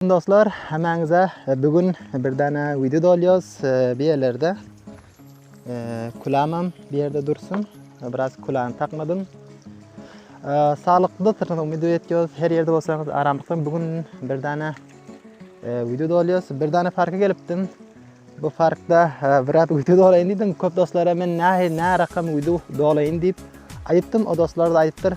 Dostlar hemmäňize bu gün bir dana video dolýas. Bu ýerlerde kulamam bu ýerde dursun. Biraz kulany takmadym. Saglyklykda syrna umyt etýäs. Her ýerde bolsaňyz aramlykdan bu gün bir dana video dolýas. Bir dana parka gelipdim. Bu parkda biraz video dolaýyn diýdim. Köp dostlara men nähili närakam video dolaýyn diýip aýypdym. O dostlar da aýypdyr.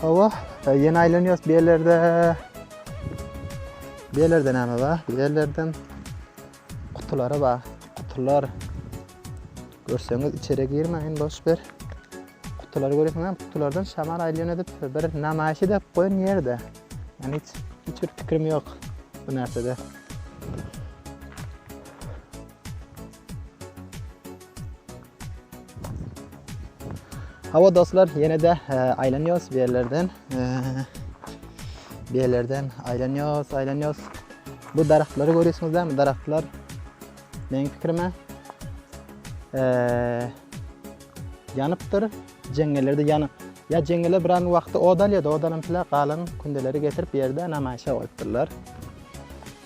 Hawa, ýene aýlanýarys bu ýerlerde. Bu ýerlerde näme bar? Bu ýerlerdem gutulary bar. Gutular. Görseňiz içeri girmäýin boş ber. Gutulary görýäsiň hem gutulardan şamal aýlaýan edip bir namaýyş edip goýan ýerde. Yani hiç hiç bir pikrim ýok bu närsede. Hawa dostlar, ýene-de aýlanýarys bu ýerlerden. Bu ýerlerden aýlanýarys, aýlanýarys. Bu daragtlary görýärsiňizmi? Bu daragtlar meniň pikirime ýanypdyr. Jeňňelerde ýany ýa jeňňeler bir wagtda od alýar, odanam pile galan kündeleri getirip ýerde namaýşa goýupdyrlar.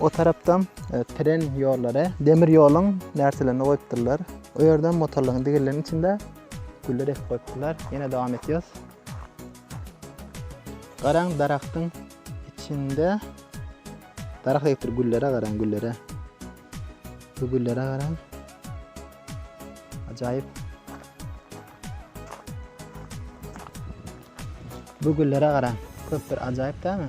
O tarapdam tren ýollary, demir ýoluň närselerini goýupdyrlar. O ýerdem motorlaryň digirleriň içinde güller ekip goýupdyrlar. Ýene dowam etýäs. Garaň daragtyň içinde daragt ekipdir, güllere garaň, güllere. Bu güllere garaň. Ajaýyp. Bu güllere garaň. Köp bir ajaýyp dämi?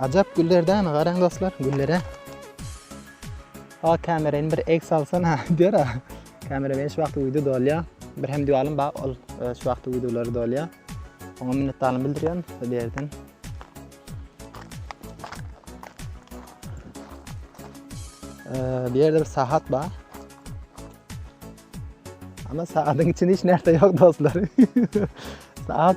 Ajap güller dämi garaň dostlar güllere. Ha kamerany bir ek salsana diýer ha. Kamera beş wagty video dolýa. Bir hem diýalym ba ol e, şu wagty videolary dolýa. Oňa minnetdarlyk bildirýän bu ýerden. E, bir ýerde bir sahat ba. Ama saadyň içinde hiç näme ýok dostlar. Saat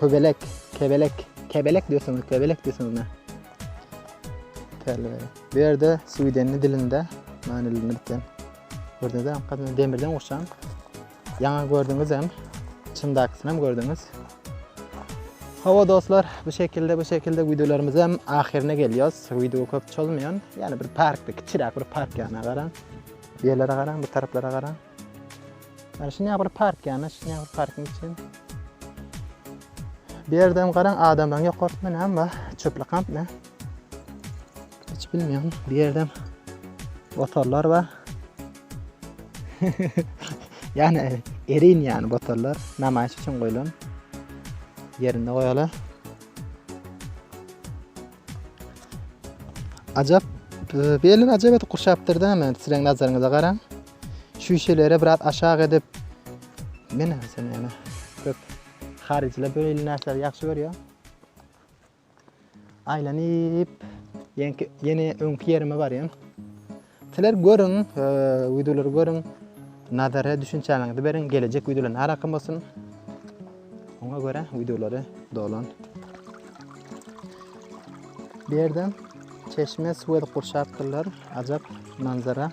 Köbelek, kebelek, kebelek diýseňiz, kebelek diýseňiz. Täli. Bu ýerde Swidende dilinde manylyny bilipden. Gördüňizmi? Gadymy demirden gurşan. Ýaňa gördüňiz hem, çyndakysyny hem gördüňiz. Hawa dostlar, bu şekilde bu şekilde wideolarymyz hem ahyryna gelýär. Wideo köp çozmaýan, ýani bir parkda, kiçiräk bir park ýana garan. Ýerlere garan, bu taraplara garan. Ana şu näbir park ýa-da şu näbir parking üçin. Bu ýerde hem garaň adamlaryň ýokarsynda näme bar? Çöplük kamp ne? Hiç bilmeýän. Bu ýerde hem botallar bar. Ýani erin ýani botallar namaýyş üçin goýlan. Ýerinde goýalar. Ajap, e, belli ajap edip gurşapdyr da, men siziň nazaryňyza garaň. Şüşeleri biraz aşak edip Mine sen ýene köp haryjyla beýle närsleri ýagşy görýär. Aýlanyp ýenki ýene öňki ýerime barýan. Sizler görüň, e, wideolary görüň. Nazara düşünçäňizi beriň. Gelejek wideolar nära akym bolsun. Oňa görä wideolary dolan. Bu ýerde çeşme suw edip gurşapdyrlar. Ajap manzara.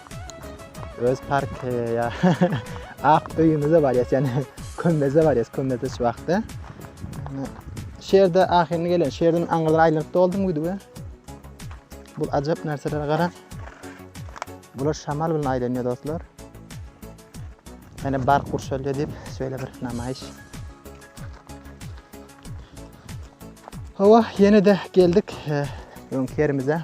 Öz park e, ya ak öýümize baryas yani kömmeze baryas kömmeze şu wagtda. Şu ýerde ahyryny gelen, şu ýerden aňyrdan aýlanyp doldum gidip. Bu ajap narsalara gara. Bular şamal bilen aýlanýar dostlar. Yani bar gurşalýar diýip şöyle bir namaýyş. Hawa, ýene de geldik e, öňki ýerimize.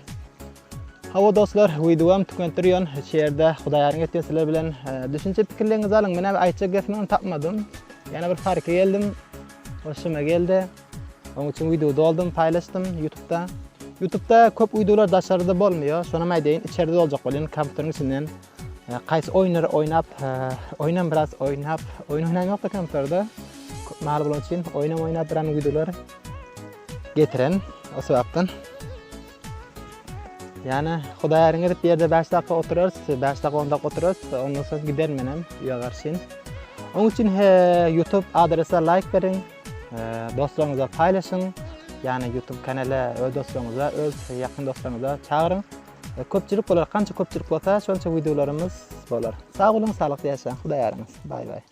Hawa dostlar wideom tükentdirýon şeýerde hudaýaryň etýän sizler bilen düşünje pikirleriňizi alyň men abi aýtjak gepimi tapmadym ýene bir parka geldim hoşuma geldi oň üçin wideo doldum paýlaşdym ýutubda ýutubda köp wideolar daşarda bolmaýar şonam aýdaýyn içerde doljak bolýan kompýuteriň içinden Kays oynar oynap, oynam biraz oynap, oyun oynam yok da kamplarda. Mal bulun için oynam oynap bir an videolar getiren o sebaptan. Ýana Hudaý äriň edip ýerde bäş dakga oturarys, bäş dakga on dakga oturarys, ondan soň giderin menem öýe garşyn. Oň üçin he YouTube adrese laýk beriň, dostlaryňyza paýlaşyň. Ýani YouTube kanala öz dostlaryňyza, öz ýakyn dostlaryňyza çagyryň. Köpçülik bolar, kança köpçülik bolsa, şonça wideolarymyz bolar. Sag boluň, saglykly ýaşaň, Hudaý äriňiz. Baý baý.